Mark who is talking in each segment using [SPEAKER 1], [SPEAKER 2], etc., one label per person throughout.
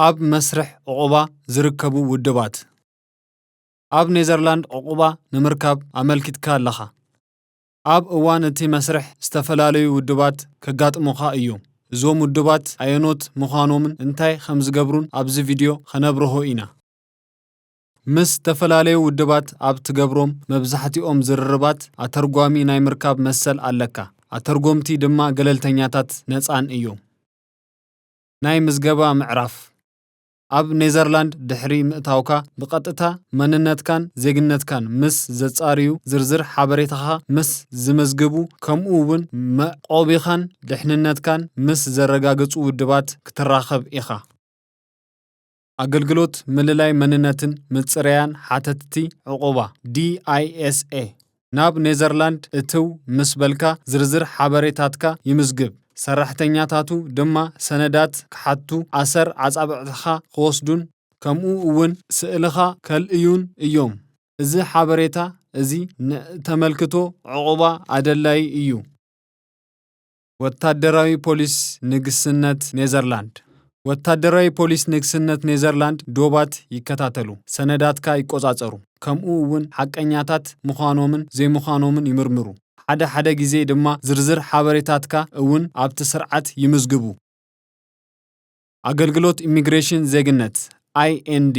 [SPEAKER 1] ኣብ መስርሕ ዕቝባ ዝርከቡ ውድባት። ኣብ ኔዘርላንድ ዕቝባ ንምርካብ ኣመልኪትካ ኣለኻ። ኣብ እዋን እቲ መስርሕ ዝተፈላለዩ ውድባት ከጋጥሙኻ እዮም። እዞም ውድባት ኣየኖት ምዃኖምን እንታይ ከም ዝገብሩን ኣብዚ ቪድዮ ኸነብርሆ ኢና። ምስ ዝተፈላለዩ ውድባት ኣብ ትገብሮም መብዛሕትኦም ዝርርባት ኣተርጓሚ ናይ ምርካብ መሰል ኣለካ፣ ኣተርጎምቲ ድማ ገለልተኛታትን ነጻን እዮም። ናይ ምዝገባ ምዕራፍ፣ ኣብ ኔዘርላንድ ድሕሪ ምእታውካ ብቐጥታ መንነትካን ዜግነትካን ምስ ዘጻርዩ፣ ዝርዝር ሓበሬታኻ ምስ ዝመዝግቡ፣ ከምኡ ውን መዕቆቢኻን ድሕንነትካን ምስ ዘረጋግጹ ውድባት ክትራኸብ ኢኻ። ኣገልግሎት ምልላይ መንነትን ምጽረያን ሓተትቲ ዕቝባ፣ DISA፣ ናብ ኔዘርላንድ እትው ምስ በልካ ዝርዝር ሓበሬታትካ ይምዝግብ፣ ሰራሕተኛታቱ ድማ ሰነዳት ክሓቱ፣ ኣሰር ኣጻብዕትኻ ክወስዱን ከምኡ እውን ስእልኻ ከልእዩን እዮም። እዚ ሓበሬታ እዚ ንእተመልክቶ ዕቝባ ኣደላዪ እዩ። ወታደራዊ ፖሊስ ንግስነት ኔዘርላንድ ወታደራዊ ፖሊስ ንግስነት ኔዘርላንድ ዶባት ይከታተሉ፣ ሰነዳትካ ይቆጻጸሩ፣ ከምኡ እውን ሓቀኛታት ምዃኖምን ዘይምዃኖምን ይምርምሩ፣ ሓደ ሓደ ግዜ ድማ ዝርዝር ሓበሬታትካ እውን ኣብቲ ስርዓት ይምዝግቡ። ኣገልግሎት ኢሚግሬሽን ዜግነት፣ IND፣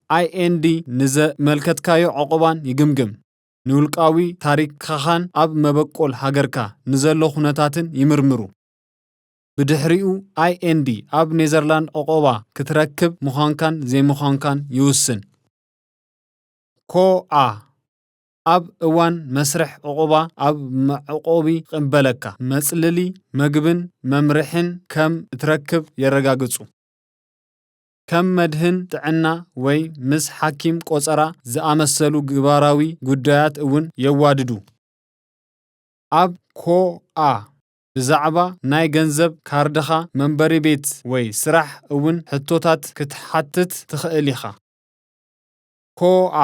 [SPEAKER 1] IND ንዘመልከትካዮ ዕቝባን ይግምግም። ንውልቃዊ ታሪካኻን ኣብ መበቆል ሃገርካ ንዘሎ ኩነታትን ይምርምሩ። ብድሕሪኡ IND ኣብ ኔዘርላንድ ዑቕባ ክትረክብ ምዃንካን ዘይምዃንካን ይውስን። ኮኣ ኣብ እዋን መስርሕ ዑቕባ ኣብ መዕቆቢ ቕበለካ፣ መጽልሊ፣ መግብን መምርሒን ከም እትረክብ የረጋግጹ። ከም መድህን ጥዕና ወይ ምስ ሓኪም ቆጸራ ዝኣመሰሉ ግባራዊ ጉዳያት እውን የዋድዱ። ኣብ ኮኣ ብዛዕባ ናይ ገንዘብ ካርድኻ፣ መንበሪ ቤት ወይ ስራሕ እውን ሕቶታት ክትሓትት ትኽእል ኢኻ። ኮኣ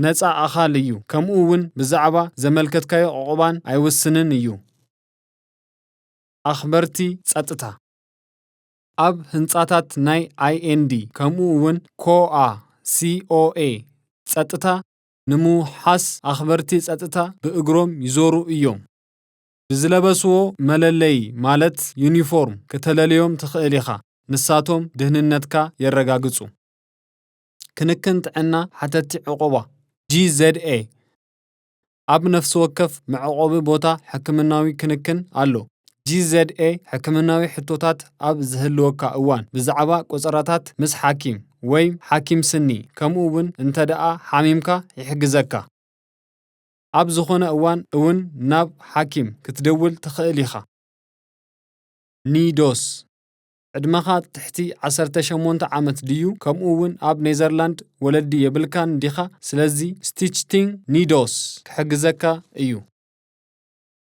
[SPEAKER 1] ነጻ ኣኻል እዩ ከምኡ እውን ብዛዕባ ዘመልከትካዮ ዑቕባን ኣይውስንን እዩ። ኣኽበርቲ ጸጥታ። ኣብ ህንጻታት ናይ IND ከምኡ እውን ኮኣ፣ COA፣ ጸጥታ ንምውሓስ ኣኽበርቲ ጸጥታ ብእግሮም ይዞሩ እዮም። ብዝለበስዎ መለለዪ ማለት ዩኒፎርም ክተለልዮም ትኽእል ኢኻ፣ ንሳቶም ድህንነትካ የረጋግጹ። ክንክን ጥዕና ሓተትቲ ዕቑባ፣ GZA፣ ኣብ ነፍሲ ወከፍ መዕቖቢ ቦታ ሕክምናዊ ክንክን ኣሎ። GZA ሕክምናዊ ሕቶታት ኣብ ዝህልወካ እዋን ብዛዕባ ቆጸራታት ምስ ሓኪም ወይ ሓኪም ስኒ ከምኡ እውን እንተደኣ ሓሚምካ ይሕግዘካ። ኣብ ዝኾነ እዋን እውን ናብ ሓኪም ክትደውል ትኽእል ኢኻ። NIDOS ዕድመኻ ትሕቲ ዓሰርተ ሸሞንተ ዓመት ድዩ ከምኡ ውን ኣብ ኔዘርላንድ ወለዲ የብልካን ዲኻ ስለዚ ስቲችቲንግ ኒዶስ ክሕግዘካ እዩ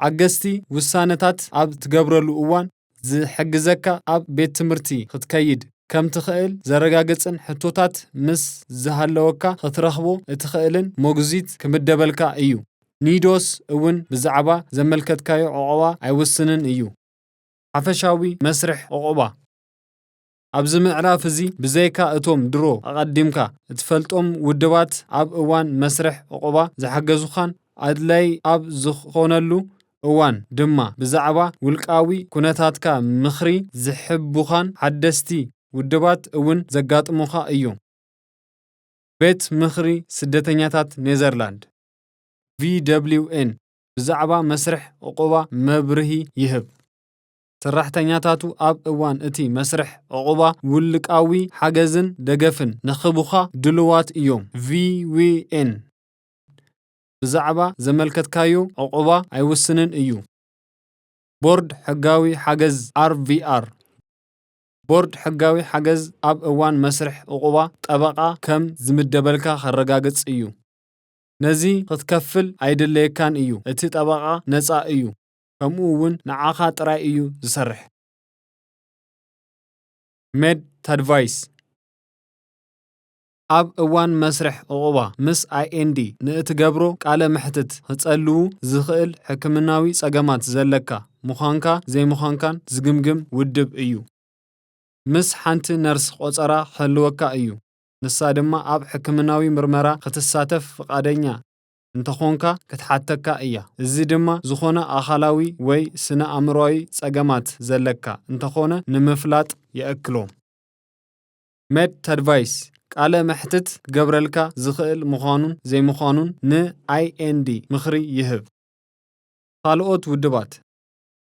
[SPEAKER 1] ሓገዝቲ ውሳነታት ኣብ ትገብረሉ እዋን ዝሕግዘካ ኣብ ቤት ትምህርቲ ክትከይድ ከም ትኽእል ዘረጋግጽን ሕቶታት ምስ ዝሃለወካ ክትረኽቦ እትኽእልን ሞግዚት ክምደበልካ እዩ ኒዶስ እውን ብዛዕባ ዘመልከትካዮ ዑቕባ ኣይውስንን እዩ። ሓፈሻዊ መስርሕ ዑቕባ። ኣብዚ ምዕራፍ እዚ ብዘይካ እቶም ድሮ ኣቐዲምካ እትፈልጦም ውድባት ኣብ እዋን መስርሕ ዑቕባ ዝሓገዙኻን ኣድላዪ ኣብ ዝኾነሉ እዋን ድማ ብዛዕባ ውልቃዊ ኩነታትካ ምኽሪ ዝሕቡኻን ሓደስቲ ውድባት እውን ዘጋጥሙኻ እዮም። ቤት ምኽሪ ስደተኛታት ኔዘርላንድ፣ VWN፣ ብዛዕባ መስርሕ ዕቝባ መብርሂ ይህብ። ሰራሕተኛታቱ ኣብ እዋን እቲ መስርሕ ዕቝባ ውልቃዊ ሓገዝን ደገፍን ንኽህቡኻ ድሉዋት እዮም። VWN ብዛዕባ ዘመልከትካዮ ዕቝባ ኣይውስንን እዩ። ቦርድ ሕጋዊ ሓገዝ RVR ቦርድ ሕጋዊ ሓገዝ ኣብ እዋን መስርሕ ዕቝባ ጠበቓ ከም ዝምደበልካ ከረጋግጽ እዩ። ነዚ ኽትከፍል ኣይድለየካን እዩ፣ እቲ ጠበቓ ነጻ እዩ፣ ከምኡ እውን ንዓኻ ጥራይ እዩ ዝሰርሕ። MedAdvice ኣብ እዋን መስርሕ ዕቝባ ምስ IND ንእትገብሮ ቃለ መሕትት ኽጸልው ዝኽእል ሕክምናዊ ጸገማት ዘለካ ምዃንካ ዘይምዃንካን ዝግምግም ውድብ እዩ። ምስ ሓንቲ ነርስ ቈጸራ ኽህልወካ እዩ። ንሳ ድማ ኣብ ሕክምናዊ ምርመራ ኽትሳተፍ ፍቓደኛ እንተ ዀንካ ኽትሓተካ እያ። እዚ ድማ ዝዀነ ኣኻላዊ ወይ ስነ-ኣእምሮኣዊ ጸገማት ዘለካ እንተ ዀነ ንምፍላጥ የእክሎ። MedAdvice ቃለ መሕትት ክገብረልካ ዝኽእል ምዃኑን ዘይምዃኑን ን IND ምኽሪ ይህብ። ኻልኦት ውድባት።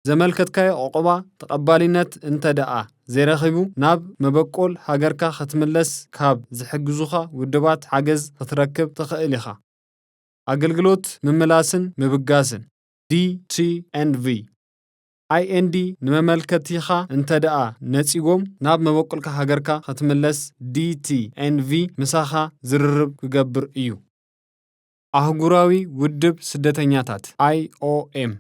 [SPEAKER 1] ዘመልከትካዮ ዑቕባ ተቐባሊነት እንተደኣ ዘይረኺቡ፣ ናብ መበቆል ሃገርካ ክትምለስ ካብ ዝሕግዙኻ ውድባት ሓገዝ ክትረክብ ትኽእል ኢኻ። ኣገልግሎት ምምላስን ምብጋስን፣ DTNV፣ IND ንመመልከቲኻ እንተደኣ ነጺጎም ናብ መበቆልካ ሃገርካ ክትምለስ DTNV ምሳኻ ዝርርብ ክገብር እዩ። ኣህጉራዊ ውድብ ስደተኛታት፣ IOM፣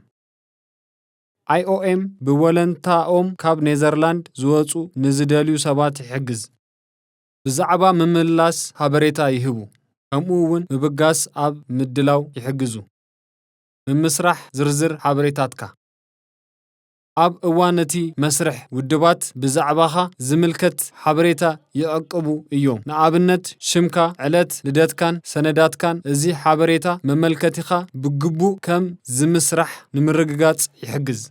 [SPEAKER 1] IOM ብወለንታኦም ካብ ኔዘርላንድ ዝወጹ ንዝደልዩ ሰባት ይሕግዝ። ብዛዕባ ምምልላስ ሓበሬታ ይህቡ፣ ከምኡ እውን ምብጋስ ኣብ ምድላው ይሕግዙ። ምምስራሕ ዝርዝር ሓበሬታትካ። ኣብ እዋን እቲ መስርሕ ውድባት ብዛዕባኻ ዝምልከት ሓበሬታ ይዕቅቡ እዮም። ንኣብነት ሽምካ፣ ዕለት ልደትካን ሰነዳትካን እዚ ሓበሬታ መመልከቲኻ ብግቡእ ከም ዝምስራሕ ንምርግጋጽ ይሕግዝ።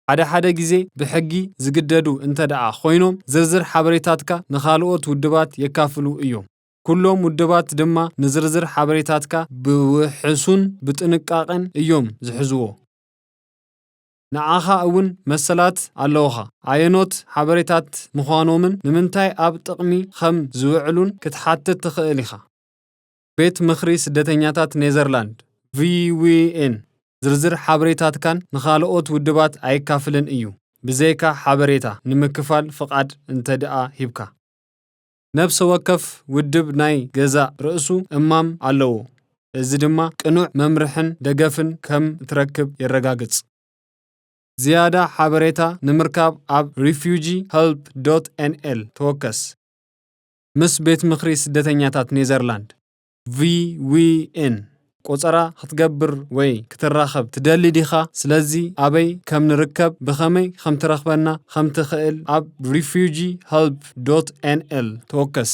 [SPEAKER 1] ሓደ ሓደ ግዜ ብሕጊ ዝግደዱ እንተድኣ ኮይኖም ዝርዝር ሓበሬታትካ ንኻልኦት ውድባት የካፍሉ እዮም። ኩሎም ውድባት ድማ ንዝርዝር ሓበሬታትካ ብውሕሱን ብጥንቃቐን እዮም ዝሕዝዎ። ንዓኻ እውን መሰላት ኣለዉኻ። ኣየኖት ሓበሬታት ምዃኖምን ንምንታይ ኣብ ጥቕሚ ኸም ዚውዕሉን ክትሓትት ትኽእል ኢኻ። ቤት ምኽሪ ስደተኛታት ኔዘርላንድ፣ VWN፣ ዝርዝር ሓበሬታትካን ንኻልኦት ውድባት ኣየካፍልን እዩ፣ ብዘይካ ሓበሬታ ንምክፋል ፍቓድ እንተድኣ ሂብካ። ነብሰ ወከፍ ውድብ ናይ ገዛእ ርእሱ እማም ኣለዎ፣ እዚ ድማ ቅኑዕ መምርሕን ደገፍን ከም እትረክብ የረጋግጽ። ዝያዳ ሓበሬታ ንምርካብ ኣብ refugeehelp.nl ተወከስ። ምስ ቤት ምኽሪ ስደተኛታት ኔዘርላንድ። VWN ቆጸራ ክትገብር ወይ ክትራኸብ ትደሊ ዲኻ? ስለዚ ኣበይ ከም ንርከብ ብኸመይ ከም ትረኽበና ከም ትኽእል ኣብ Refugee Help ዶት NL ተወከስ።